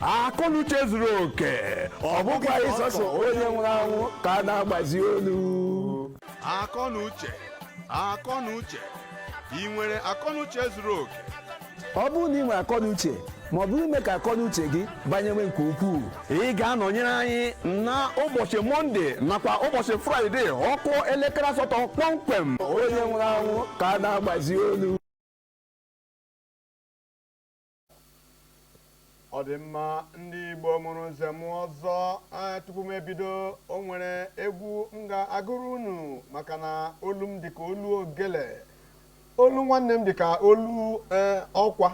akọnuche zuru oke ọ bụkwa sọsọ onye nwụrụ anwụ ka a na-agbazi olu akọnuche akọnuche ị nwere akọnuche zuru oke ọ bụrụ na ị nwere akọnuche ma ọ bụ ime ka akọnuche gị banyewe nke ukwuu ị ga-anọnyere anyị na ụbọchị mọnde nakwa ụbọchị fraịde ọ kụọ elekere asatọ kpọmkwem onye nwụrụ anwụ ka a na-agbazi olu ọ dị mma ndị igbo mụrụ nze mụọ ọzọ tupu m ebido o nwere egwu m ga-agụrụ unu maka na olu m dịka olu ogele olu nwanne m dịka olu e, ọkwa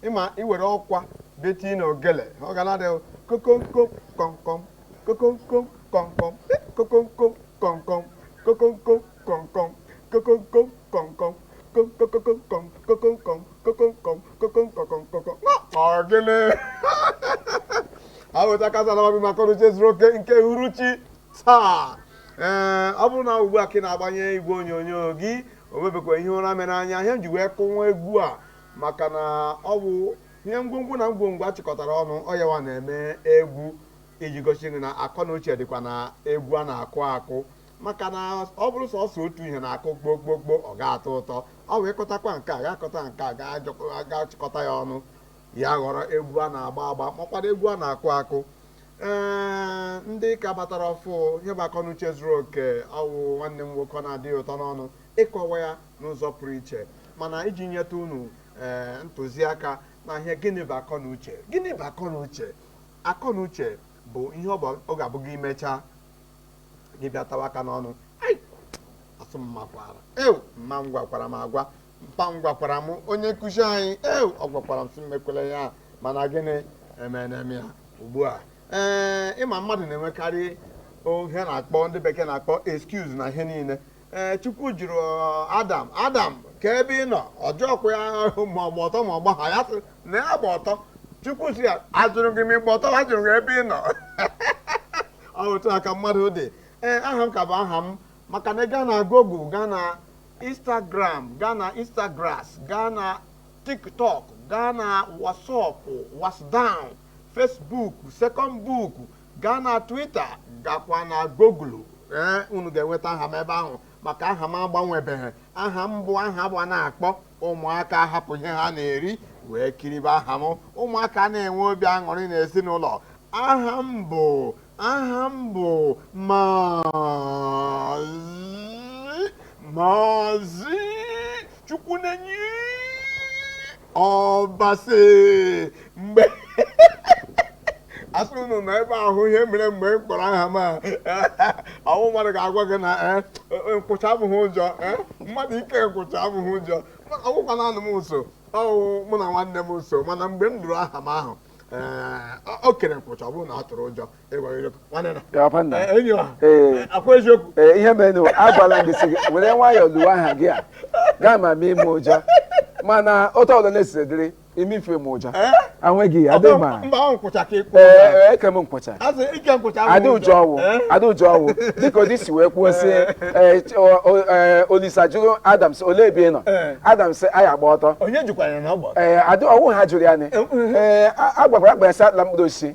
ị ma i were ọkwa bịa tii na ogele ọ ga na-ada kokonkom kọmkọm kokonkom kọmkọm kokonkom kọmkọm kokonkom ọ gịnị aweta kazalabi maka akọnuche zuru oke nke uhuruchi taa ee ọ bụrụ na ugbu a ka ị na-agbanye igwe onyonyo gị o mebekwa ihe ụra mere anya ihe m ji wee kụnwa egwu a maka na ọ bụ ihe ngwongwo na ngwongwo a chịkọtara ọnụ ọ yawa na-eme egwu iji gosi gị na akọ na uche dịkwa na egwu a na-akụ akụ maka na ọ bụrụ sọsọ otu ihe na-akụ gbogbogboo ọ ga-atọ ụtọ ọ wee kọtakwa nke a ga-akọta nke a ga-achịkọta ya ọnụ ya ghọrọ egwu a na-agba agba makwado egwu a na-akụ akụ ee ndị ka batara ọfụụ ihe bụ akọnuche zuru oke ọ wụ nwanne m nwoke ọ na-adị ụtọ n'ọnụ ịkọwa ya n'ụzọ pụrụ iche mana iji nyeta unu ee ntụziaka na ihe gịnị bụ akọnuche gịnị bụ akọnuche akọnuche bụ ihe ọ ga-abụ gị mechaa gị bịa tawa aka n'ọnụ Ai! asị m makwaara ew mma m gwakwara m agwa mpa m gwakwara m onye nkụzi anyị ew ọ gwakwara m sị m emekwele ya mana gịnị emene m ya ugbu a ee ị ma mmadụ na-enwekarị ihe na-akpọ ndị bekee na-akpọ excuse na ihe niile ee chukwu jụrụ adam adam kee ebe ị nọ ọ jụọkwa ya ma ọ gba ọtọ ma ọ gbaghị ya sị na ya gba ọtọ chukwu sị ya ajụrụ gị ma ị gba ọtọ ajụrụ gị ebe ị nọ ọ otu a ka mmadụ dị ee aha m ka bụ aha m maka na ị gaa na google gaa na instagram gaa na instagrass gaa na tiktok gaa na whatsapp whatsdown facebook second book gaa na Twitter gakwa na Google ee unu ga-enweta aha m ebe ahụ maka aha m agbanwebeghị aha m bụ aha bụ a na-akpọ ụmụaka hapụ ihe ha na-eri wee kiribe aha m ụmụaka na-enwe obi aṅụrị n'ezinụlọ aha m bụ aha m bụ maazị maazị chukwunenye ọbasị mgbe asị unu na ebe ahụ ihe mere mgbe m kpọrọ aha m ọ wụ mmadụ ga-agwa gị na eh, eh, nkwụcha abụghị ụjọ eh, mmadụ ike nkwụcha abụghị ụjọ ọ wụkwa na anọ m nso ọ wụ mụ na nwanne m nso mana mgbe m nụrụ aha m ahụ o kere nkwụcha ọ bụrụ na ọ tụrụ ụjọ ee ihe mere na agwala gị sị gị were nwayọọ luwe aha gị a gaa ma mee ime ụjọ mana otu ọbụla na-esiri dịrị ime ife m ụjọ anweghị ya adịghị ma eke m nkwụcha adị ụjọ ọ wụ dịka ụdị si wee kwuo sị olisa jụrụ adam sị olee ebe ị nọ adam sị anyị gba ọtọ ee adị ọ wụ ihe a jụrụ ya nị ee agbakwara agba ya sị atala mkpụrụ osisi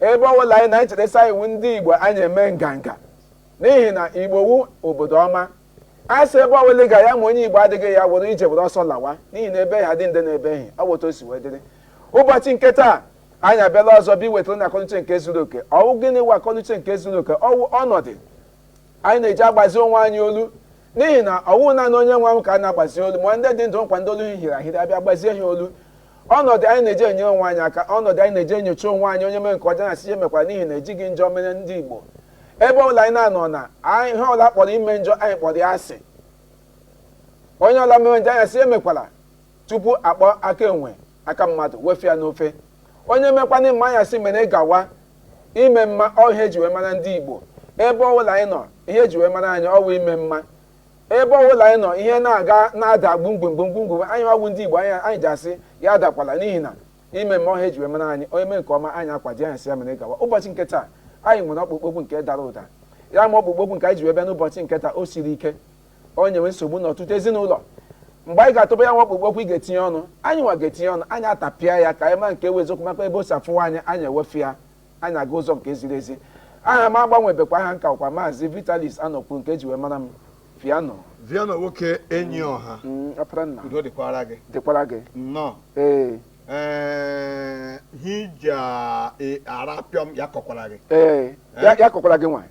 ebe ọbụla anyị nọ anyị cheta sị anyị wụ ndị igbo anyị eme nganga n'ihi na igbo wụ obodo ọma a sị ebe ọbụla ị ga ya ma onye igbo adịghị ya were ije were ọsọ lawa n'ihi na ebe ha dị nde na ebe ehi ọ wụ otu o si wee dịrị ụbọchị nke taa anyị abịala ọzọ bụ iwetara unu akọnuche nke zuru oke ọ wụ gịnị wụ akọnuche nke zuru oke ọ wụ ọnọdụ anyị na-eji agbazi onwe anyị olu N'ihi na ọ wụghị naanị onye nwụrụ anwụ ka a na-agbazi olu ma ndị dị ndụ kwa ndị olu hiri ahiri a bịa gbazie ha olu ọnọdụ anyị na-eji enyere onwe anyị aka ọnọdụ anyị na-eji enyocha onwe anyị onye mere nke ọjọọ anyị asị ya emekwala n'ihi na ejighị njọ mara ndị Igbo ebe ọbụla anyị na-anọ na ihe ọla a kpọrọ ime njọ anyị kpọrọ ya asị onye ọla mere njọ anyị asị ya emekwala tupu akpọọ aka enwe aka mmadụ wefụ ya n'ofe onye mekwa mma anyị asị mere gawa ime mma ọ ihe eji wee mara ndị Igbo ebe ọbụla anyị nọ ihe eji wee mara anyị ọ wụ ime mma ebe ọbụla anyị nọ ihe na-aga na-ada gbumgbumgbumgbumgbum anyị ọ wụ ndị Igbo anyị ji asị ya adakwala n'ihi na ime mma ọ ihe eji wee mara anyị onye mee nke ọma anyị akwado ya sị ya mere gawa ụbọchị nke taa anyị nwere ọkpụkpọ okwu nke dara ụda ya ma ọkpụkpọ okwu nke anyị ji wee bịa n'ụbọchị nke taa o siri ike o nyewe nsogbu n'ọtụtụ ezinụlọ mgbe anyị ga-atụba ya nwa ọkpụkpọ okwu ị ga-etinye ọnụ anyị nwa ga-etinye ọnụ anyị atapịa ya ka anyị ma nke wụ eziokwu makwa ebe o si afụwa anyị anyị ewefụ ya anyị aga ụzọ nke ziri ezi aha m agbanwebekwa aha m ka wụkwa maazị vitalis anọkwu nke eji wee mara m viano nwoke enyi ọha mm, ọpara nna udo dịkwara gị dịkwara gị nnọọ ee ee hija arapịọm ya kọkwara gị ee ya ya kọkwara gị nwaanyị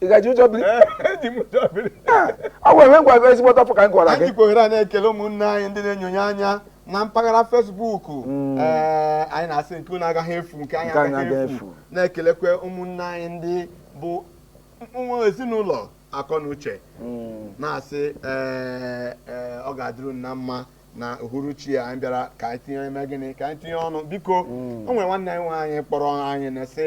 ị gaji ụjọ biri eji m ụjọ biri Ah, o nwere ihe m gwara gị ezigbo afọ ka m gwara gị anyị jikwa ohere a na-ekele ụmụnne anyị ndị na-enyonye anya na mpaghara Facebook ee anyị na-asị nke unu agaghị efu nke anyị agaghị efu. na-ekelekwa ụmụnne anyị ndị bụ nwa ezinụlọ akọ na uche na-asị ee ee, ọ ga-adịrị unu na mma na uhuruchi a anyị bịara ka anyị tinye mee gịnị ka anyị tinye ọnụ biko o nwere nwanne anyị nwaanyị kpọrọ anyị na-asị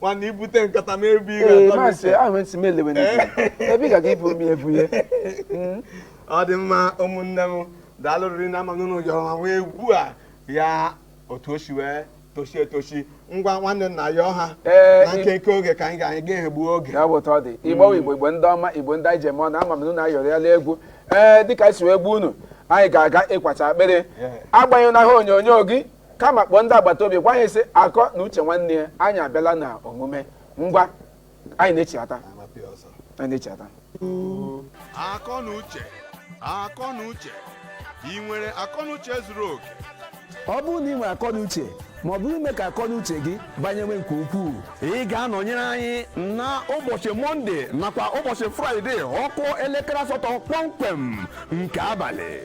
nwanne ibute nkata m ebe ị ee ga-atọ m maazị ise. ahụ ntị m elewe n'ike ebe ị ga-aga ibu mmiri ebu ihe Mm. ọ dị mma ụmụnne m daalụ rinne ama m na unu yọrọ ma nwee egwu a ya otu o si wee tochie etochi ngwa nwanne nna ya ọha Ee, na ị- nkenke oge ka anyị ga-anyị ga-egbu oge ya bụ otu ọ dị igbo igbo igbo ndị ọma igbo ndị anyị ji eme ọnụ ama m na unu ayọrọ ya n'egwu ee dịka anyị si wee gwa unu anyị ga-aga ịkwacha akpịrị Yeah. agbanyụna ihe onyonyo gị kama kpọọ ndị agbata obi gwa anyị sị akọ na uche nwanne ya anyị abịala na omume ngwa anyị na-echighata anyị na-echighata akọ na uche akọ na uche ị nwere akọ na uche zuru oke ọ bụrụ na ị nwere akọ na uche ma ọ bụ ime ka akọ na uche gị banyewe nke ukwuu ị ga-anọnyere anyị na ụbọchị mọnde nakwa ụbọchị fraịde ọ kụọ elekere asatọ kpọmkwem nke abalị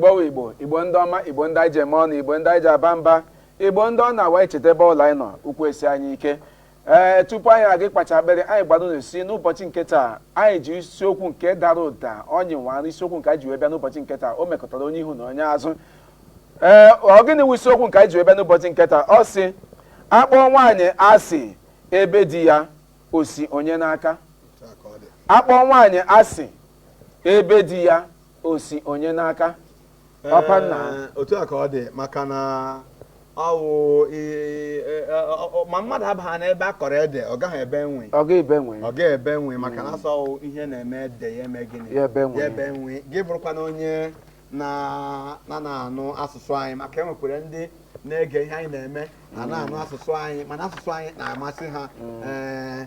Igbo wụ Igbo, Igbo ndị ọma, Igbo ndị anyị ji eme ọnụ, Igbo ndị anyị ji aba mba, Igbo ndị ọ na-awụ e cheta ebe unu nọ, ụkwụ esie anyị ike. Ee, tupu anyị aga ịkwacha akpịrị, anyị gwara unu sị n'ụbọchị nke taa, anyị ji isiokwu nke dara ụda ọnyị nwara isiokwu nke anyị ji wee bịa n'ụbọchị nke taa, o mekọtara onye ihu na onye azụ. Ee, ọ gịnị wụ isiokwu nke anyị ji wee bịa n'ụbọchị nke taa? Ọ sị, akpọọ nwaanyị asị ebe di ya o si onye n'aka. Akpọọ nwaanyị asị ebe di ya o si onye n'aka ọpa nna. Ee, otu a ka ọ dị maka na ọ wụ i- e- e- ọ- ọ- ma mmadụ abaghị n'ebe a kọrọ ede ọ gaghị ebe nwii ọ ga ebe nwii ọ ga-ebe nwii maka na a sị ọ wụ ihe na-eme ede ya eme gịnị Ya ebe nwii. ya ebe nwii gị bụrụkwa na onye na-anaghị anụ asụsụ anyị maka e nwekwara ndị na-ege ihe anyị na-eme ha anaghị anụ asụsụ anyị mana asụsụ anyị na-amasị ha ee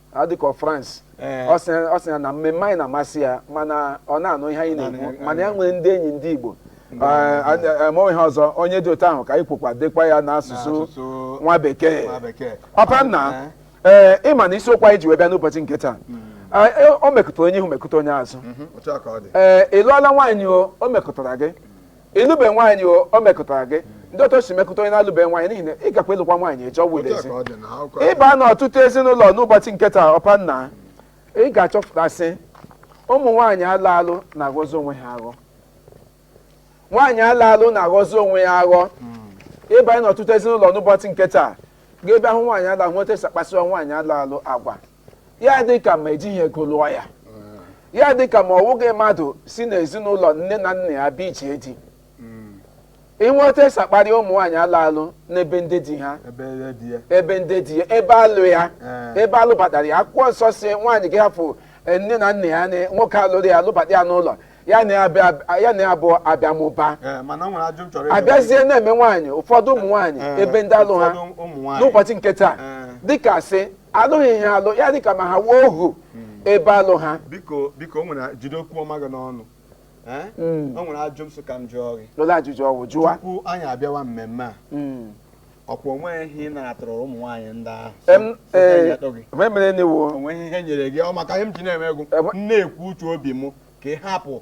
a dịka France Ee. ọ sị ọ sị ya na mmemme anyị na-amasị ya mana ọ naghị anụ ihe anyị na-ekwu Naanị- mana ya nwere ndị enyi ndị Igbo ma ihe ọzọ onye dị otu ahụ ka anyị kwukwa dekwa ya n'asụsụ N'asụsụ nwa bekee nwa bekee. ọpa nna ee ị ma na isiokwu anyị ji wee bịa n'ụbọchị nke taa Ah, eh, o mekụtara onye ihu mekụta onye azụ Mhm, otu a ka ọ dị ee ị lụọla nwaanyị o o mekụtara gị ị lụbe nwaanyị o o mekụtara gị ndị otu o si mekụta onye na-alụbe nwaanyị n'ihi na ị gakwa ịlụkwa nwaanyị echi ọ bụ Otu a ezi ka ọ dị na akwụkwọ ahụ. ị baa na ọtụtụ ezinụlọ n'ụbọchị nke taa ọpa nna ị ga-achọpụta sị ụmụ nwaanyị alụ alụ na-aghọzi onwe ha aghọ nwaanyị alụ alụ na-aghọzi onwe ya aghọ ị banye n'ọtụtụ ezinụlọ n'ụbọchị nke taa gaa ebe ahụ nwaanyị alụ alụ nweta esi akpasịwa nwaanyị alụ alụ agwa ya dị ka ma ejighị ego lụọ ya ya dị ka ma ọ wụghị mmadụ si n'ezinụlọ nne na nna ya bịa ije di inweta esi akparị ụmụ nwaanyị alụ alụ n'ebe ndị di ha ebe ya dị ya ebe ndị di ya ebe a lụ ya Ee. ebe a lụbatara ya akwụkwọ nsọ sị nwaanyị ga-ahapụ eh, nne na nna ya na nwoke alụrụ ya alụbata ya n'ụlọ ya na ya abịa- ya na ya bụ abịa mụba Ee, mana o nwere ajụjụ m chọrọ ịjụ. abịazie na-eme nwaanyị ụfọdụ ụmụ nwaanyị Ee, ebe ndị alụ ha ụfọdụ ụmụ nwaanyị. n'ụbọchị nke taa Ee. dịka sị alụghị ihe alụ ya dịka ma ha wụ ohu ebe alụ ha biko biko o nwere jide okwu ọma gị n'ọnụ Eh? Mm. o nwere ajụ m sị ka m jụọ gị lụla ajụjụ ọ wụ jụwa tupu anyị abịawa mmemme a Mm. ọkwa onweghị ihe ị natara ụmụ nwaanyị ndị ahụ Em, So ka anyị ee, atọ gị. mgbe mere n'iwu onweghị ihe nyere gị ọ maka ihe m ji na-eme egwu Ebe- m na-ekwu uche obi m ka ị hapụ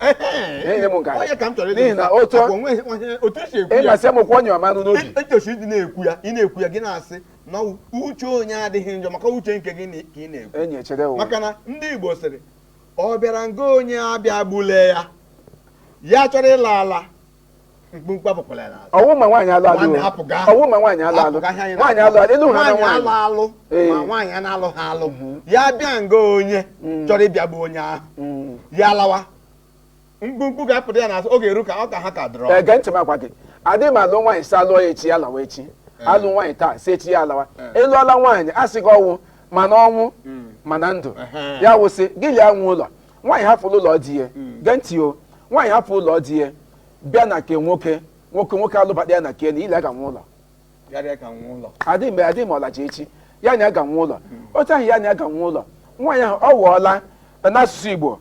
Ihe m nke a. Onye ka m chọrọ ịjụ N'ihi na gị, otu- akwa onwe- onwe- otu esi ekwu ya ịmasị m kwụ onye ọmanụ n'obi e- etosi ịdị na-ekwu ya ị na-ekwu ya gị na-asị na ọ- uche onye adịghị njọ maka uche nke gị na- ka ị na-ekwu enyi echede o maka na ndị Igbo sịrị ọ bịara nga onye abịagbule ya ya chọrọ ịla ala mkpumkpu apụkwala ya n'azụ ọwụ ma nwaanyị alụ alụ Nwanne, hapụ gaa. ọwụ ma nwaanyị alụ alụ Hapụ gaa ihe anyị nwaanyị alụ alụ elu ha na nwaanyị alụ nwaanyị alụ Ee. ma nwaanyị a na-alụ ha alụ ya bịa nga onye chọrọ ịbịa bụ onye ahụ Mm. ya lawa mkpumkpu ga-apụta ya n'azụ oge eru ka ọ ka ha ka dọrọ gee ntị m agwa gị adị m alụ nwaanyị si alụọ ya echi ya lawa echi alụ nwaanyị taa si echi ya alawa a lụọla nwaanyị a sị gị ọ wụ ma n'ọnwụ ma na ndụ Ehe. ya wụ sị gị la ya nwe ụlọ nwaanyị hapụrụ ụlọ di ya gee ntị o nwaanyị hapụ ụlọ di ya bịa na nke nwoke nwoke nwoke alụbata ya na nke na ya la ya ga-enwe ụlọ Ya la ya ga-enwe ụlọ. adịghị mgbe adịghị ma ọ laje echi ya na ya ga-enwe ụlọ otu ahụ ya na ya ga-enwe ụlọ nwaanyị ahụ ọ wụọla n'asụsụ igbo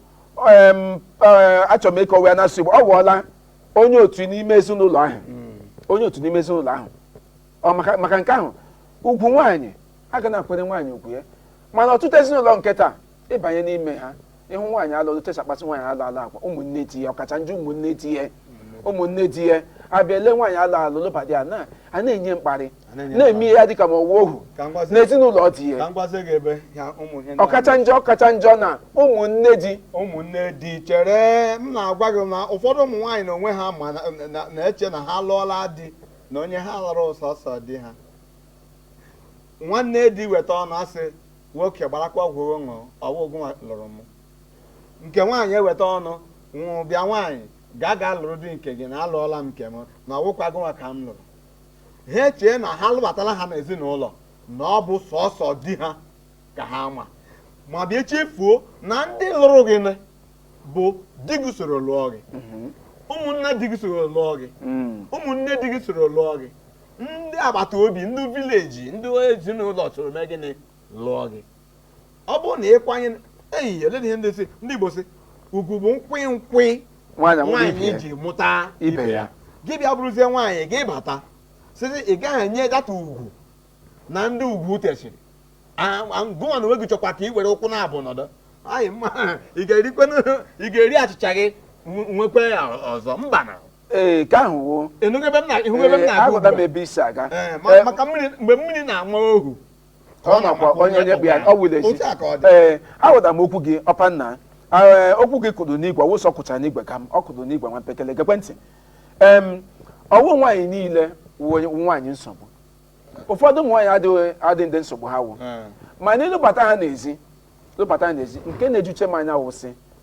em, eh, achọrọ m ịkọwa ya n'asụsụ igbo ọ wụọla onye otu n'ime ezinụlọ ahụ onye otu n'ime ezinụlọ ahụ ọ maka maka nke ahụ ugwu nwaanyị a ga na-akwere nwaanyị ugwu ya mana ọtụtụ ezinụlọ nke taa ịbanye n'ime ha ịhụ nwaanyị alụ otu esi akpaso nwaanyị alụ alụ agwa ụmụnne di ya ọkacha njọ ụmụnne di ya ụmụnne di ya abịa ele nwaanyị alụ alụ lụbata anya a na-enye mkparị A na-enye na-eme ya dịka ma ọ wụ ohu Ka m gwazie- n'ezinụlọ di ya ka m gwazie gị ebe ya ụmụ ihe ndị ọkacha njọ ọkacha njọ na ụmụnne di ụmụnne di chere m na-agwa gị na ụfọdụ ụmụ nwaanyị na onwe ha ma na- na- na-eche na ha lụọla di na onye ha lụrụ sọsọ di ha nwanne di weta ọnụ asị nwoke gbarakwa ọgwụ ṅụọ ọ wụ gụnwa lụrụ m nke nwaanyị eweta ọnụ nwụrụ bịa nwaanyị ga ga lụrụ di nke gị na alụọla m nke m na ọ wụkwa gụnwa ka m lụrụ ha echee na ha lụbatala ha n'ezinụlọ na ọ bụ sọsọ di ha ka ha ma ma bịa chefuo na ndị lụrụ gị bụ di gị soro lụọ gị mm-hmm. ụmụnna di gị soro lụọ gị mm. ụmụnne di gị soro lụọ gị ndị agbata obi ndị vileji ndị ezinụlọ soro mee gịnị lụọ gị ọ bụrụ na ịkwanye eh oledị ihe ndị sị ndị Igbo sị ugwu bụ nkwị nkwị nwaanyị ji mụta ibe ya gị bịa bụrụzie nwaanyị gị bata sịzi ị gaghị enye data ugwu na ndị ugwu tesiri gụnwa na onwe gị chọkwa ka ị were ụkwụ naabọ nọdụ ala mba ị ga-eri achịcha gị nwekwa ya ọzọ mba na ee ka ahụ wo ịnụgo ebe m na ịhụgo ebe m na-aga aghọta m ugbu a? ebe i si aga Ee, ma- Ee, maka mmiri mgbe mmiri na-ama ohu ka ọ makwa onye onye kpụ ya ọ wụla ezi otu a ka ọ dị ee aghọtara m okwu gị ọpa nna ee okwu gị kụrụ n'igwe ọ wụ sị ọ kụchara n'igwe kama ọ kụrụ n'igwe nwa mpekele gekwe ntị em ọ wụ nwaanyị niile wụ onye- wụ nwaanyị nsogbu ụfọdụ ụmụ nwaanyị adịghị adị ndị nsogbu ha wụ Ee. mana ịlụbata ha n'ezi lụbata ha n'ezi nke na-ejuche m anya wụ sị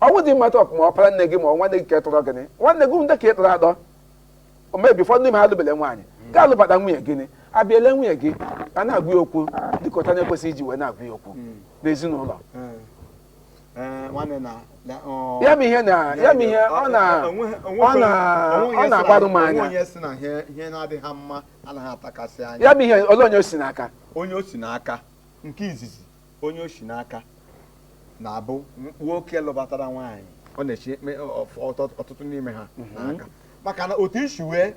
ọ wụ ndị mmadụ ọkụ ma ọpara nne gị ma nwanne gị nke tọrọ gịnị nwanne gị ndị nke ị tọrọ atọ o mebi ụfọdụ n'ime ha alụbele nwaanyị gị alụbata nwunye gịnị abịala nwunye gị a na-agwa ya okwu dịka otu a na-ekwesịghị iji wee na-agwa ya okwu n'ezinụlọ Ee, nwanne na na- ọ- ya bụ ihe na ya bụ ihe ọ na onweghị- ọ onweghị- na onweghị ọ ihe na-agbarụ m si na- anya onweghị ihe si na ihe ihe na-adịghị ha mma anaghị atakasị anya ya bụ ihe ole onye o si n'aka onye o si n'aka nke izizi onye o si n'aka na-abụ nwoke lụbatara nwaanyị ọ na-echi ekpe ọf- ọtọ- ọtụtụ n'ime ha n'aka maka na otu i si wee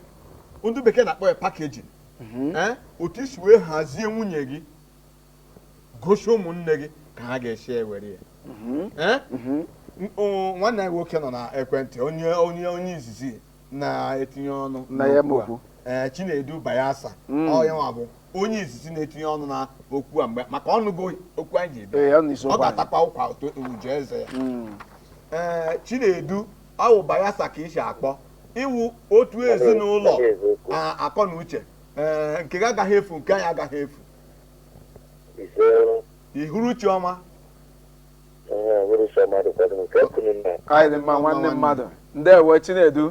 ndị bekee na-akpọ ya packaging ee otu i si wee hazie nwunye gị gosi ụmụnne gị ka ha ga-esi ewere ya ee M- o- nwanne anyị nwoke nọ na ekwentị onye onye onye izizi na-etinye ọnụ Na ya n'okwu a. n'okwu. ee chinedu bayelsa Mm. ọ ya nwa bụ onye izizi na-etinye ọnụ na okwu a mgbe maka ọ nụgo okwu anyị ji ebe Ee, ya na isi ọ okwu anyị. ga-atakwa ụkwa otu uju eze ya Mm. ee chinedu ọ wụ bayelsa ka i si akpọ ị wụ otu ezinụlọ akọ na uche ee nke gị agaghị efu nke anyị agaghị efu ise ị hụrụ chi ọma anyị dị mma nwanne mmadụ ndewo chinedu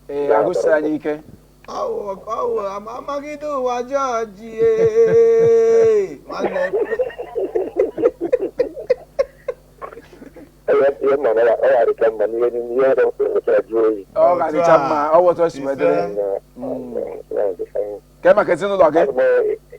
ee agụsi anyị ike amagide ụwa jọji ọ ga-adịcha mma ọ wụ otu o si wee dịrị kee maka ezinụlọ gị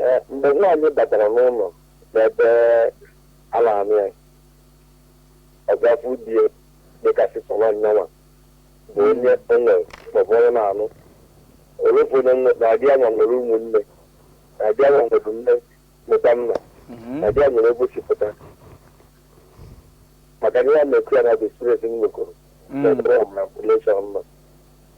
Ee, mgbe nwaanyị batara n'ụlọ n'ebe a na-anụ ya ọ ga-afụ di ya dịka sị sọ nwaanyị ya nwa bụ onye o nwere maọbụ onye na-anụ o lofu onye nwe na di ya nwa nwere ụmụnne na di ya nwa nwere nne nwekwa nna Mhm. na di ya nwere ebe o si pụta maka na ihe a m na-ekwu ya na bụ experience m nwekọrọ Mm. n'ebe ọ mụrụ relation nọ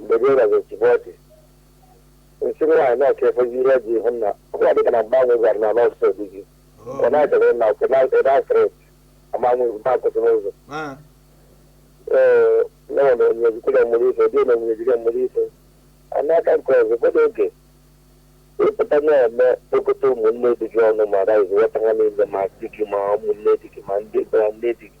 mgbe gị nwazi chịbụ ọchị nsị nwaanyị na ọka efe ihe ji ihu nna ọbụla dịka na mgbanwe gwara na n'ọ sọ di gị ọ na-echere na ọkụ na ebe asịrị amanwe mba akwụsị n'ụzọ Ah, ee nọọ na onye ejikere mmụrụ ife dị na onye ejikere mmụrụ ife a n'aka nke ọzọ ụfọdụ oge ịpụta na-eme kpokọta ụmụnne di gị ọnụ ma raịz ghọta ha niile ma di gị ma ụmụnne di gị ma ndị ma nne di gị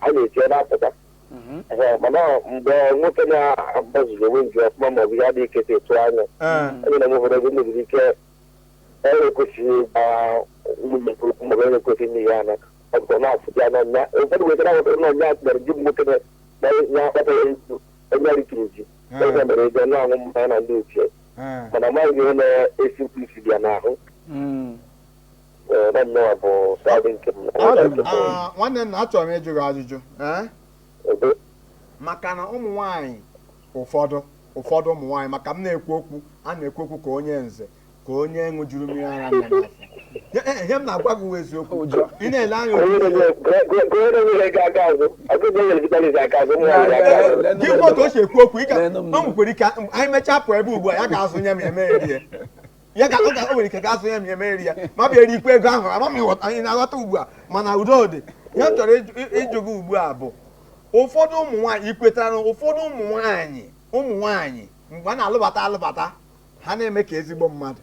a na-eji ọ na-apụta Mhm. Ee, mana mgbe nwoke na-agbaziri onwe nje ọfụma ma ọ bụ ya dị ike etu anya Ee. onye na nwefere ego mebiri ike onye ekwesịghị ịgba ụmụnne nke okwu maọbụ onye ekwesịghị ime ihe ana ọ bụ na afụta ya n'ọnya ụfọdụ nwere ike na-awụta n'ọnya atụnyere ji bụ nwoke na- na ya akpatara ikwu onye rikiri ji onye nwere ego na-aṅụ mmanya na ndị ochie Ee. mana amaghị ihe na-esi mkpi isi dị ya n'ahụ Mm. Ee, na nnọọ bụ side nke m. Adị m. Ah, nwanne nna achọrọ m ịjụ gị ajụjụ ee Ebe- maka na ụmụ nwaanyị ụfọdụ ụfọdụ ụmụ nwaanyị maka m na-ekwu okwu a na-ekwu okwu ka onye nze ka onye ṅụjuru mmiri ara nne n'afọ Ihe- eh, ihe m na-agwa gị wụ eziokwu Ụjọ. ị na-ele anya Onye otu na-enye- gụọ- gụọ- gụọ onye na-enye ego aka azụ. Ọ bụrụ na o nyere gị tọnis aka azụ, ụmụ nwaanyị aka azụ. Leenụ gị m. otu o si ekwu okwu ị ga Leenụ m. o nwekwere ike anyị mechaa pụọ ebe ugbu a ya gaa azụ nye m eme ya rie ya ka o nwere ike gaa azụ nye m emeri ya ma bịa erikwa ego ahụ ama m ị ghọta anyị na-aghọta ugbu a mana udo dị ihe m chọrọ ịjụ gị ugbu a bụ ụfọdụ ụmụ nwaanyị ị kwetara na ụfọdụ ụmụ nwaanyị ụmụ nwaanyị mgbe a na-alụbata alụbata ha na-eme ka ezigbo mmadụ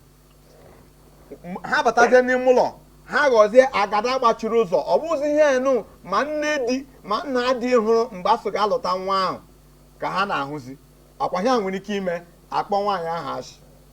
ha batazie n'ime ụlọ ha ghọzie agada gbachiri ụzọ ọ bụzi ihe enu ma nne di ma nna di hụrụ mgbe a sị gaa lụta nwa ahụ ka ha na-ahụzi ọ kwa ihe a nwere ike ime a kpọọ nwaanyị ahụ asị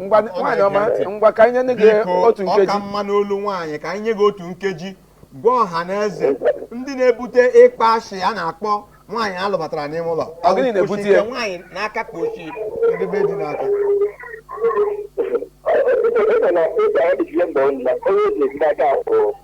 ngwa nwaanyị ọma ngwa ka anyị nye gị otu nkeji ọ ka mma n'olu nwaanyị ka anyị nye gị otu nkeji gwa ọha na eze ndị na-ebute ịkpọ ashị a na-akpọ nwaanyị a lụbatara n'ime ụlọ ọ gịnị na-ebute ya nwaanyị n'aka ka o shi ndị be di n'aka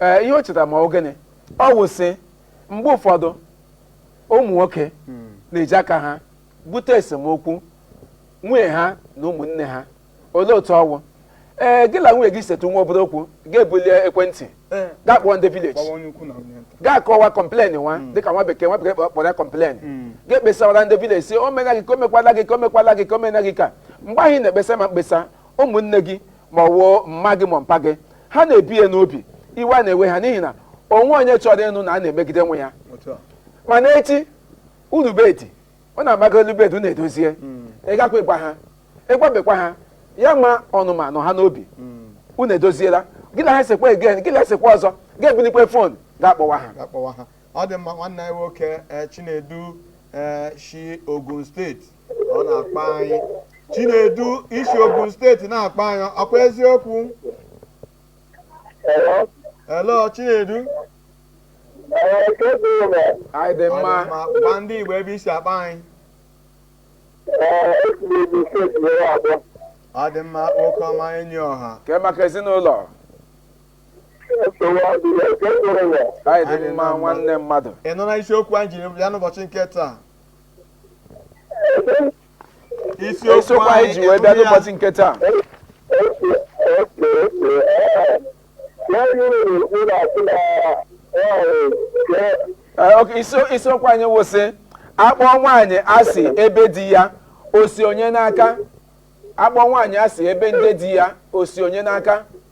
ee ihe o chetara ma ọ bụ gịnị ọ wụ sị mgbe ụfọdụ ụmụ nwoke na-eji aka ha bute esemokwu nwunye ha na ụmụnne ha olee otu ọ wụ ee gị na nwunye gị setụ nwa obere okwu gị ebuli ekwentị Ee. gaa kpọọ ndị village Gwawa onye ukwu na onye nta. gaa kọwa complain nwa dịka nwa bekee nwa bekee kpọ- kpọrọ ya complain gaa kpesawara ndị village sị o mena gị ka o mekwala gị ka o mekwala gị ka o mena gị ka mgbe ahụ ị na-ekpesa ma mkpesa ụmụnne gị ma ọ wụ mma gị ma mpa gị ha na-ebu ya n'obi iwe a na-ewe ha n'ihi na o nwe onye chọrọ ịnụ na a na-emegide nwa ya mana echi elu bed ọ na-amaga elu bed unu edozie ị gakwa ịgwa ha ị gwabekwa ha ya ma ọnụma nọ ha n'obi unu edoziela gị na ha esekwa again gị na ha esekwa ọzọ gị ebulikwe phone gaa kpọwa ha gaa kpọwa ha ọ dị mma nwanne anyị nwoke eh, Chinedu eh, shi Ogun State ọ na-akpọ anyị chinedu i si ogun steeti na-akpọ anyị ọkwa eziokwu hello chinedu anyị dị mma gwa ndị igbo ebe i si akpọ anyị ọ dị mma nwoke ọma enyi ọha ke maka ezinụlọ anyị dị mma nwanne mmadụ ị nụla isiokwu anyị jiri bịa n'ụbọchị nke taa isiokwu anyị ji wee bịa n'ụbọchị nke taa isiokwu anyị wụ sị akpọ nwaanyị asị ebe di ya o si onye n'aka akpọ nwaanyị asị ebe ndị di ya o si onye n'aka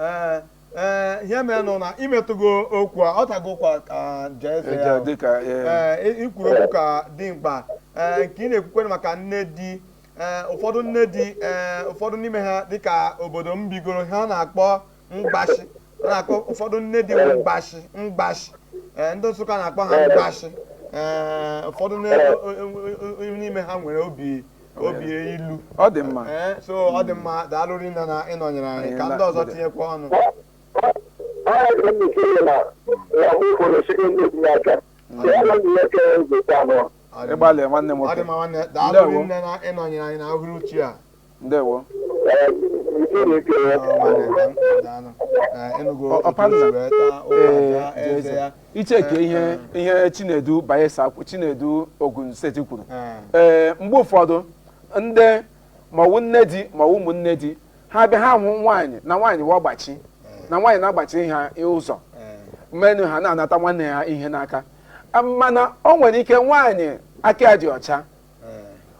ee ee ihe mere nụ na i metụgo okwu a ọ tago ụkwa ka jee eze ya eja dịka ee, ee i- i kwuru okwu ka dị mkpa ee nke ị na-ekwukwere maka nne di ee ụfọdụ nne di ee ụfọdụ n'ime ha dịka obodo m bigoro ha na-akpọ mgbashi a na-akpọ ụfọdụ nne di nwe mgbashi mgbashi ee ndị nsụka na-akpọ ha mgbashi ee ụfọdụ nne- o- o- o- n'ime ha nwere obi obi ilu ọ dị mma ee so ọ dị mma daalụ rinne na ị nọnyere anyị ka ndị ọzọ tinyekwa ọnụ ịgbalị nwanne ọ dị nwoke mma nwanne daalụ Ndewo. rinne na ị nọnyere anyị na uhuruchi a ndewo icheke ihe ihe chinedu bayelsa kwu- chinedu ogun steeti kwuru ee mgbe ụfọdụ ndị maọwụ nne di maọwụ ụmụnne di ha bịa ha hụ nwaanyị na nwaanyị wa gbachi na nwaanyị na-agbachi ha ụzọ menu ha na-anata nwanne ha ihe n'aka mana o nwere ike nwaanyị aka ya dị ọcha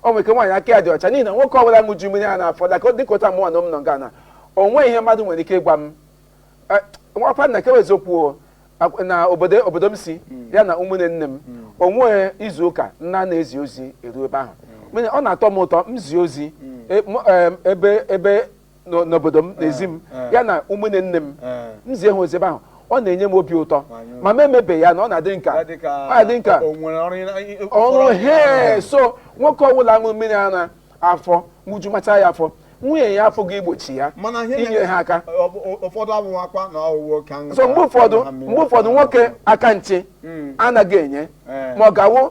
o nwere ike nwaanyị aka ya dị ọcha n'ihi na nwoke ọbụla ṅụju mmiri ara afọ like dịka otu mụnwa na m nọ nga na o nweghị ihe mmadụ nwere ike ịgwa m nwakwa nna kewe eziokwu na obodo obodo m si ya na ụmụnne nne m o nweghị izu ụka m na-anaghị ezi ozi eru ebe ahụ ọ na-atọ m ụtọ m zie ozi ebe ebe n'o- n'obodo m n'ezi m eh. ya na ụmụnne nne m Eh. m zie ha ozi ebe ahụ ọ na-enye m obi ụtọ Manyụ. ma m emebeghị ya na ọ na-adị m ka ya dị ka ọ na-adị m ka o nwere ọrụ ị- ị- ị- ọrụ he so nwoke ọbụla ṅụrụ mmiri ara afọ ṅụju macha ya afọ nwunye ya apụghị igbochi ya mana ihe inyere ha aka ọ bụ- ọ- ụfọdụ abụghị akwa na ọwụwa oke aṅụ so mgbe ụfọdụ mgbe ụfọdụ nwoke aka nche anaghị enye ma ọ gawo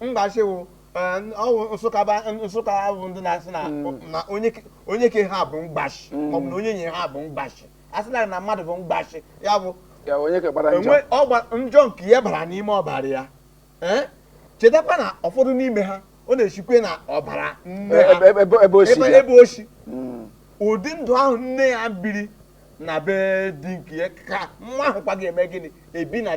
mgbashi wụ ọ wụ nsụka ba nsụka bụ ndị na-asị na na onye ke- onye ke ha bụ mgbashi maọbụ na nwunye ha bụ mgbashi a sị na na mmadụ bụ mgbashi ya bụ ya onye ka gbara njọ enwe ọgba njọ nke ya bara n'ime ọbara ya Eh? chetakwa na ụfọdụ n'ime ha ọ na-esikwe n'ọbara nne ha Ebe- ebe- ebe o si ebe bịa. ebe o si Mm. ụdị ndụ ahụ nne ya biri na be di nke ya ka nwa ahụ kwa ga-eme gịnị ebi na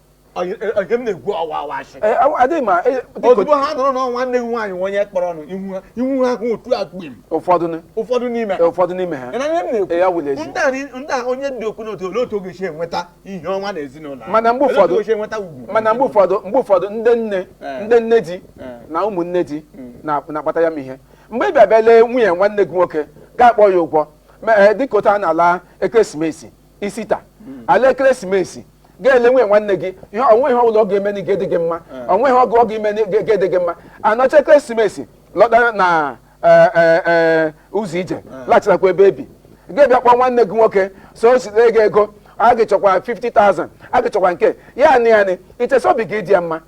adịghị ma e, ozugbo ha nụrụ na nwanne gị nwaanyị onye kpọrọ ọnụ ihu ha hụ otu akpim ụfọdụ n'ime ụfọdụ n'ime ha ndị a onye dị okwu n'otu olee otu ọ ga-esi enweta ihe ọma n'ezinụlọ mana mgbe ụfọdụ mana mgbe ụfọdụ mgbe ụfọdụ ndị nne ndị nne di na ụmụnne di hmm. na-akpata ya m ihe mgbe ị bịa bịa lee nwunye nwanne gị nwoke gị akpọọ ya ụgwọ eh, dịka otu a na-ala ekeresimesi ista alaa ekeresimesi gị elee nwunye nwanne gị ihe o nwee ihe ọbụla ọ ga-eme na ga-adị gị mma o nwee ihe ọ bụ ọ ga-eme na ga-adị gị mma a nọchaa ekeresimesi lọta na eh, eh, eh, ụzọ ije laghachilakwa ebe e bi gị abịa kpọọ nwanne gị nwoke sị o zitere gị ego a ga-echọkwa 50,000 a ga-echọkwa nke ya anị anị i che sị obi ga-adị ya mma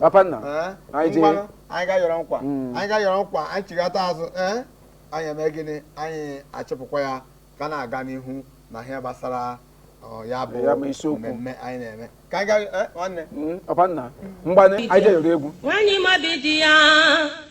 papa nna Ee? anyị jee Ngwanụ, anyị ga-ayọrọ nkwa Mm. anyị ga-ayọrọ nkwa anyị chigata azụ ee anyị eme gịnị anyị achịpụkwa ya ka na-aga n'ihu n'ihe gbasara ọ, ya bụ Ya bụ isiokwu. mmemme anyị na-eme ka anyị ga ee, nwanne Mm, papa nna ngwanụ anyị jee yọrọ egwu Nwaanyị ma obi di ya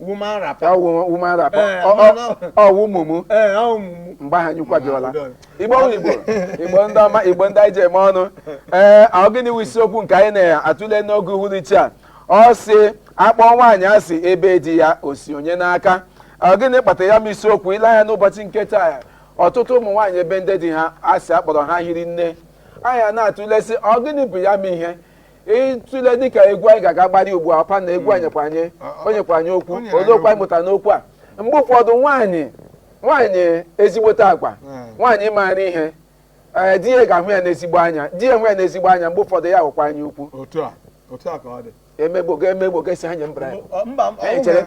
woman wrapper. ọ wụ woman wrapper Eh, Ọ- ọ- no, no. ọ wụ mumu Ee, ọ wụ mumu. mgbe ahụ anyị kwadola igbo bụ igbo igbo ndị ọma igbo ndị anyị ji eme ọnụ ee ọ gịnị wụ isiokwu nke anyị na-atụle n'oge uhuruchi a ọ sị a kpọọ nwaanyị asị ebe di ya o si onye n'aka ọ gịnị kpatara ya m isiokwu ile anya n'ụbọchị nke taa ọtụtụ ụmụ nwaanyị ebe ndị di ha asị a kpọrọ ha hiri nne anyị ana-atụle sị ọ gịnị bụ ya m ihe ịtụle dịka egwu anyị ga-aga gbari ugbu a ọpa na egwu anyị nyekwa anyị o nyekwa anyị okwu O nyere olee okwu anyị anyị mụta n'okwu a mgbe ụfọdụ nwaanyị nwaanyị ezigbote agwa Mm. nwaanyị maara ihe ee di ya ga-ahụ ya n'ezigbo anya di ya hụ ya n'ezigbo anya mgbe ụfọdụ ya wụkwa anya ukwu otu a otu a ka ọ dị emegbo ga emegbo ga-esi anya mbra Mba, m- Anyị chere-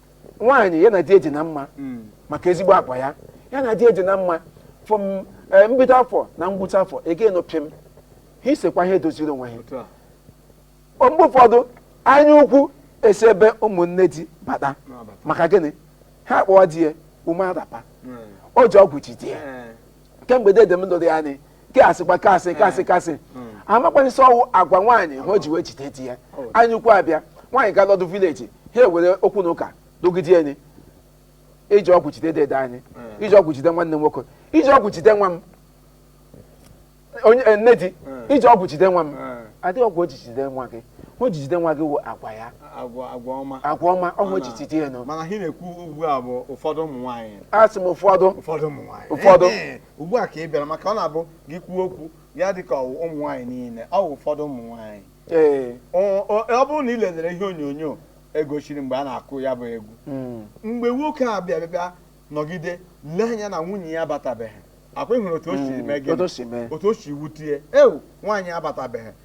nwaanyị ya na di ya adị na mma maka ezigbo agwa ya ya na di ya adị na mma from eh, mbido afọ na ngwụcha afọ a ga-anụ pịm ha esekwa ha edoziri onwe ha otu a O mgbe ụfọdụ anya ukwu esi ebe ụmụnne di bata na-abata maka gịnị ha akpọwa di ya woman wrapper Mm. o ji ọgwụ ji di ya Eh, kemgbe dede m lụrụ ya anyị nke asịkwa kasị kasị kasị amakwaghị sị ọ wụ agwa nwaanyị ahụ o ji wee jide di ya anya ukwu abịa nwaanyị ga lọdụ village ha ewere okwu na ụka lụgide ya nị i ji ọgwụ jide dede anyị i ji ọgwụ jide nwanne m nwoke i ji ọgwụ jide nwa m onye eh, nne di i ji ọgwụ jide nwa m adịghị ọgwụ o ji jide nwa gị o ji jide nwa gị wụ agwa ya agwa agwa ọma agwa ọma ọhụ echichi dị enu mana ihe a na-ekwu ugbu a bụ ụfọdụ ụmụ nwaanyị asị m ụfọdụ ụfọdụ ụmụ nwaanyị ụfọdụ Ehe, ugbu a ka ị bịara maka ọ na-abụ gị kwuo okwu ya dị ka ọ wụ ụmụ nwaanyị niile ọ wụ ụfọdụ ụmụ nwaanyị ee Ọ- ọ ọ bụrụ na ị lelere ihe onyonyo e gosiri mgbe a na-akụ ya bụ egwu mm, mgbe nwoke a bịa bịa nọgide lee anya na nwunye ya abatabeghị ọkwa ị hụrụ otu o si mee otu gịnị o si mee otu o si wute ya ewu nwaanyị abatabeghị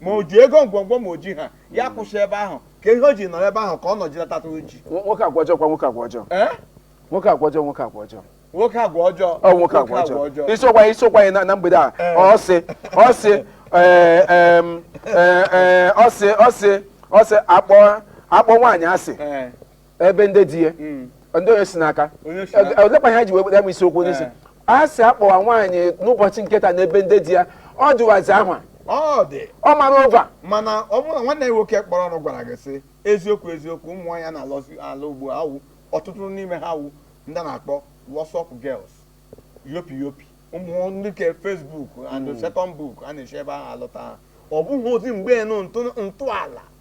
ma o ji ego ngwongwo ma o ji ha ya kwụsị ebe ahụ ka ihe o ji nọrọ ebe ahụ ka ọ nọjilata oji Nwo- nwoke agwa ọjọọ kwa nwoke agwa ọjọọ ee nwoke agwa ọjọọ nwoke agwa ọjọọ nwoke agwa ọjọọ ọ nwoke agwa ọjọọ isiokwu anyị isiokwu anyị na- na mgbede a Ee. ọ sị ọ sị ee, em, ee, ee, ọ sị ọ sị ọ sị a kpọọ a kpọọ nwaanyị asị Ee, ebe ndị di ya mm. ndị onye si n'aka olekwa ihe ji wee ya bụ isiokwu n'isi eh. a sị a kpọwa nwaanyị n'ụbọchị nketa n'ebe ndị di ya ọ dịwazi ahụ ọ dị ọ mara ụva mana ọ bụrụ na nwanne ya nwoke kpọrọ ọnụ gwara gị sị eziokwu eziokwu ụmụ nwaanyị na-alụzi alụ ugbu a ọtụtụ n'ime ha wụ ndị a na-akpọ WhatsApp girls yopi yopi ụmụ ndị ke Facebook and hmm. second book a na-esi ebe ahụ alụta ha ọ bụghịzi mgbe ntọala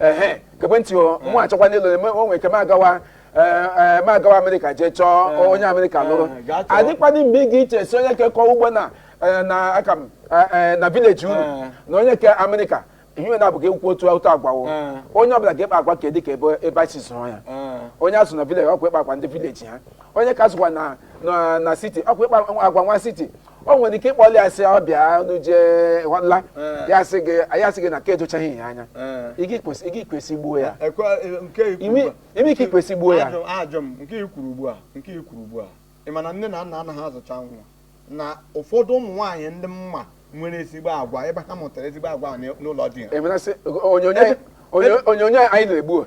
ehe gekwa ntị ọ mụ achọkwanụ ịlụ eme o nwere ike m agawa eh, eh, m agawa America jee chọọ onye America lụrụ eh, gaa chọọ. adịkwana mgbe ị ga-eche sị onye ke kọ ugbo na eh, na aka m eh, eh, na village unu Eh. na onye ke America ihe na abụghị ekwu otu otu agwa o Eh. onye ọbụla ga-ekpa agwa ka dị ka ebe ebe e si zụọ ya Eh, onye a zụ na village ọkwa ịkpa agwa ndị village ha onye ke a zụkwa na na na city ọkwa ịkpa agwa nwa city o nwere ike ị kpọli ya sị ọ bịa unu jee ghọla Eh. ya sị gị ya sị gị na ka edochaghị ya anya Eh. ị ga-ekwu sị ị ga-ekwu sị gbuo ya Ekwe nke ikwu Imi- ugbu a. ime ike ikwu sị gbuo ya. Ajụ- ajụ m nke i kwuru ugbu a nke i kwuru ugbu a ị ma na nne na nna anaghị azụcha nwa na ụfọdụ ụmụ nwaanyị ndị mma nwere ezigbo agwa ebe ha mụtara ezigbo agwa a n'ụlọ di ha emerasị onyonyo Ebe- onyonyo anyị na-egbu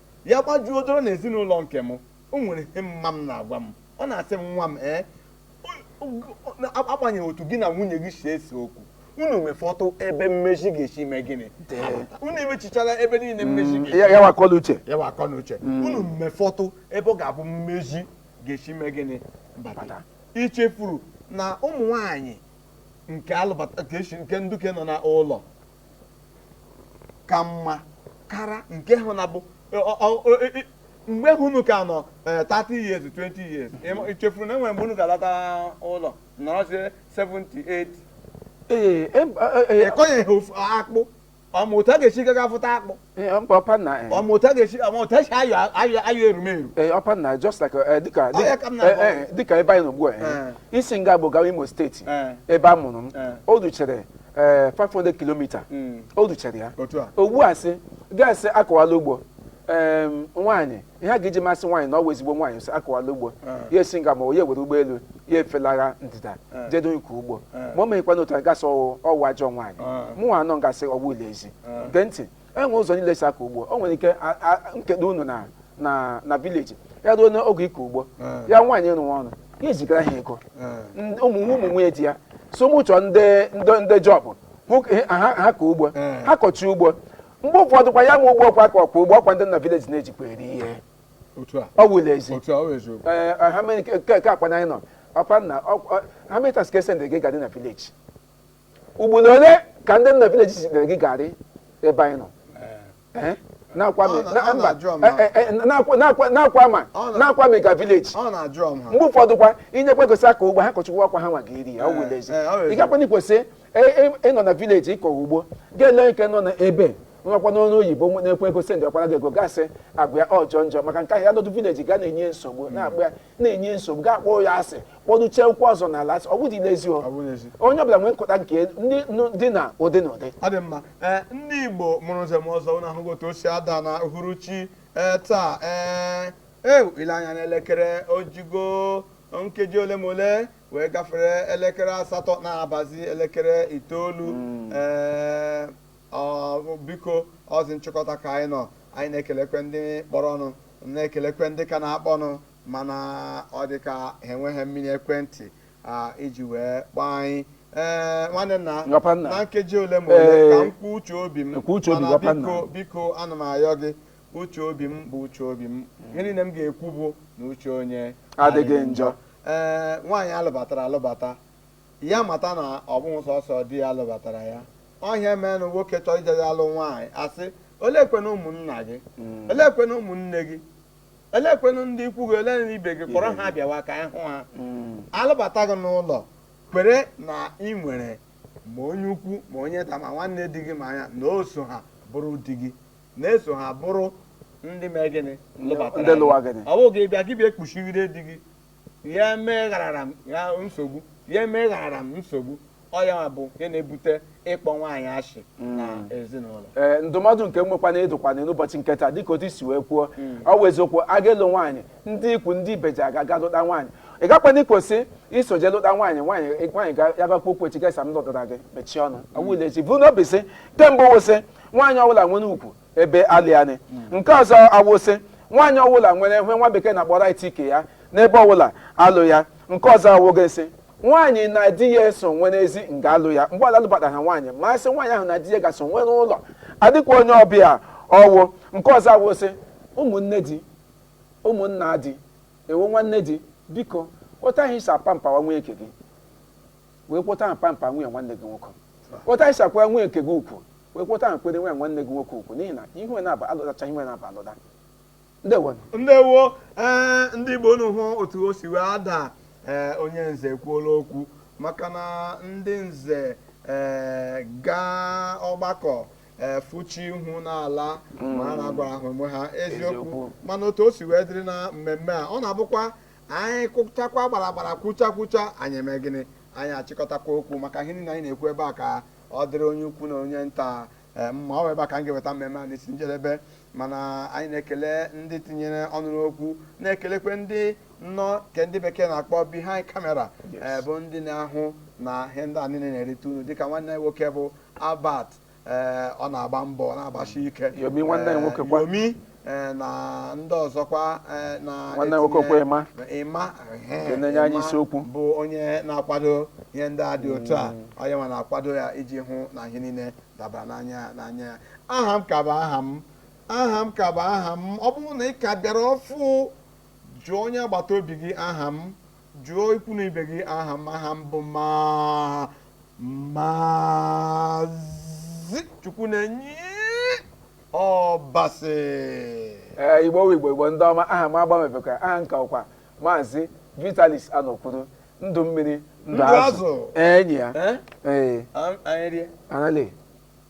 Ya gbajuo doro na ezinụlọ nke m, o nwere ihe mma m na-agwa m. Ọ na-asị m, Nwa m, ee, agbanyeghị otu gị na nwunye gị si ese okwu, unu mefọtụ ebe mmezi ga-esi mee gịnị unu emechichala ebe niile mmezi mm, ya wakọ n'uche ya wakọ n'uche mm. unu mefọtụ ebe ọ ga-abụ mmezi ga-esi mee gịnị bata i chefuru na ụmụ nwanyị nke a lụbata nke nduke nọ n'ụlọ ka mma kara nke ahụ na bụ mgbe ahụ unu ka nọ 30 eh, years 20 years chefuru na e nwere mgbe unu ga-alata ụlọ nọrọzie 78 ị kọnyeghị akpụ ọ ma otu a ga-esi gaga avụta akpụ Eh, ọ mba ọpanna eh, ọ ma otu a ga-esi ma otu esi ayọ ayọ ayọ erumeru eh, ọpanna just like eh, dịka Ọ ya ka m dịka- na-agwa eh, eh, dịka ebe anyị nọ ugbu a eh, Eh. i si nga bụ gawa imo steeti Eh. ebe a mụrụ m Eh. o duchere eh, 500 kilomita Mm. o duchere ya otu a ugbu a sị ga-asị akọwala ugbo em, nwaanyị ihe a ga-eji masị nwaanyị na ọ wụ ezigbo nwaanyị sị akọwala ugbo ya esi nga ma ya ewere ụgbọelu ya efelaga ndịda jedo ịkọ ugbo ma o meghịkwa n'otu anyị ga-asị ọ wụ ọ wụ ajọ nwaanyị mụnwa anọ nga sị ọ wụ l'ezi gee ntị e nwe ụzọ niile e si akọ ugbo o nwere ike a- a- nkedo unu na na na vileji ya ruo n'oge ịkọ ugbo ya nwaanyị rụwa ọrụ ya ezigara ha ego Ndị- ụmụ ụmụ nwunye di ya so mụ chọọ ndị ndị ndị jọbụ hụ ka ha ha kọ ugbo ha kọchi ugbo mgbe ụfọdụ kwa ya ma ugbo ọkwa ka ọkwa ugbo ọkwa ndị na vileji na-ejikwa eri ihe otu a ọ wụ l'ezi otu a ọ bụ eziokwu Ee, ọ, ha mere nke- nke nke akpa na anyị nọ ọpanna ọ- ọ- how many times ka e sendị gị garị na vileji ugboro ole ka ndị na vileji zitere gị garị ebe anyị nọ Ee, na-akwa mi- Ọ na- na- ọ mba, na-ajụ ọma. eh, eh, eh, na-akwa- na-akwa- na-akwa ma Ọ na- na-akwa m ịga vileji ọ na-ajụ ọm ha mgbe ụfọdụ kwa i nyekwa ego sị akọ ugbo ha kọchakwa ọkwa ha nwa ga-eri ya ọ wụ l'ezi Ee, ee, ọ wụla ezi. ị gakwanụ ikwesị ịnọ na vileji ịkọ ugbo ga-ele nke nọ na ebe nwakwa n'ọrụ oyibo nwe- na-ekwe ego sendịkwara gị ego ga-asị agwa ya ọ jọ njọ maka nke ahụ ya nọdụ vileji ga na-enye nsogbu na-agba ya na-enye nsogbu ga akpọ ya asị kpọduchie ụkwụ ọzọ n'ala asị ọ bụdị n'ezi Ọ bụ n'ezi. onye ọbụla nwee nghọta nke ndị nụ- dị na ụdị na ụdị ọ dị mma ee ndị Igbo mụrụ nze mụọ ọzọ unu ahụgo otu o si ada na uhuruchi ee taa ee ee ile anya n'elekere o jigo nkeji ole ma ole wee gafere elekere asatọ na-abazi elekere itoolu ee ọ biko ọzi nchịkọta ka anyị nọ anyị na-ekelekwe ndị kpọrọnụ na-ekelekwe ndị ka na-akpọnụ mana ọ dị ka ha enweghị mmiri ekwentị a, iji wee kpọọ anyị ee nwanne nna Papa nna. na nkeji ole ma ole Ee, ka m kwuo uche obi m kwuo uche obi, mana papa nna. biko biko ana m ayọ gị uche obi m bụ uche obi m ihe niile m ga-ekwu bụ na uche onye adịghị njọ ee eh, nwaanyị a lụbatara alụbata ya mata na ọ bụghị sọsọ di ya lụbatara ya ọ ihe a menụ nwoke chọọ ije ya alụ nwaanyị a sị oleekwenụ ụmụnna gị hmm. oleekwenụ ụmụnne gị oleekwenụ ndị ikwu gị oleenụ ibe gị kpọrọ ha bịawa ka anyị hụ ha hmm. a lụbata gị n'ụlọ kwere na ị nwere ma onye ukwu ma onye nta ma nwanne di gị ma ya na o so ha bụrụ di gị na-eso ha bụrụ ndị mee gịnị lụbatara Ndị lụwa gịnị? ọ bụghị ị bịa gị bịa ekpuchigide di gị ya emegharara m ya nsogbu ya emegharara m nsogbu ọ ya bụ nke na-ebute ịkpọ nwaanyị ashị na ezinụlọ ee ndụmọdụ nke nwekwana ịdụkwa unu n'ụbọchị nke taa dịka otu i si wee kwuo ọ bụ eziokwu a ga-alụ nwaanyị ndị ikwu ndị ibe ji aga ga lụta nwaanyị ị gakwanụ ikwesị iso jee lụta nwaanyị nwaanyị nwaanyị ga- ya gakwa okwu echi ga-asị m lụtara gị mechie ọnụ ọwụlechi bụ n'obi sị kemgbe wụsị nwaanyị ọbụla nwere ugwu ebe alụ ya nị nke ọzọ awụ sị nwaanyị ọbụla nwere ihe nwa bekee na-akpọ right ike ya n'ebe ọbụla alụ ya nke ọzọ awụga sị nwaanyị na di ya eso nwere ezi nga alụ ya mgbe ọla alụbata ha nwaanyị ma sị nwaanyị ahụ na di ya ga-eso nwere ụlọ adịkwa onye ọbịa ọ wụ nke ọzọ awụ sị ụmụnne di ụmụnna di ewo nwanne di biko otu ahụ i si apamperwa nwunye nke gị werekwa otu ahụ pamper nwunye nwanne gị nwoke otu ahụ i si akwa nwunye nke gị ugwu werekwa otu ahụ kwere nwunye nwanne gị nwoke ugwu n'ihi na ha naabọ alụtacha ha naabọ alụta ndewo ndewo ee ndị igbo unu hụ otu o si wee ada ee onye nze ekwuola okwu maka na ndị nze ee gaa ọgbakọ ee fụchi ihu n'ala ma ha na-agwara ha onwe ha eziokwu Eziokwu. mana otu o si wee dịrị na mmemme a ọ na-abụkwa anyị kụchakwa gbara gbara kwucha kwucha anyị eme gịnị anyị achịkọtakwa okwu maka ihe niile anyị na-ekwu ebe a ka ọ dịrị onye ukwu na onye nta eh, mma ọ bụ ebe a ka m ga-eweta mmemme a n'isi njedebe mana anyị na-ekele ndị tinyere ọnụ n'okwu na-ekelekwe ndị nọ nke ndị bekee na-akpọ behind camera eh, bụ ndị na-ahụ na ihe ndị a niile na-erite unu dịka nwanne anyị nwoke bụ Albert ee, ọ na-agba mbọ ọ na-agbashi ike Yomi nwanne anyị nwoke kwa. Yomi ee, na ndị ọzọkwa ee, na Nwanne anyị nwoke etinye- kwa Emma. Emma ehe, Nke na-enye anyị Emma isiokwu. bụ onye na-akwado ihe ndị a dị otu a onye nwa na-akwado ya iji hụ na ihe niile dabara n'anya n'anya ya aha m ka bụ aha m aha m ka bụ aha m ọ bụrụ na ị ka bịara ọfụ jụọ onye agbata obi gị aha m Jụọ ikwu na ibe gị aha m aha m bụ ma maazị Chukwunenye Ọbasị ee igbo wụ igbo igbo ndị ọma aha m agbanwebekwa aha m ka wụkwa maazị vitalis anọkwuru ndụ mmiri ndụ Ndụ azụ azụ. enyi ya Eh? ee Am- anyị rie anali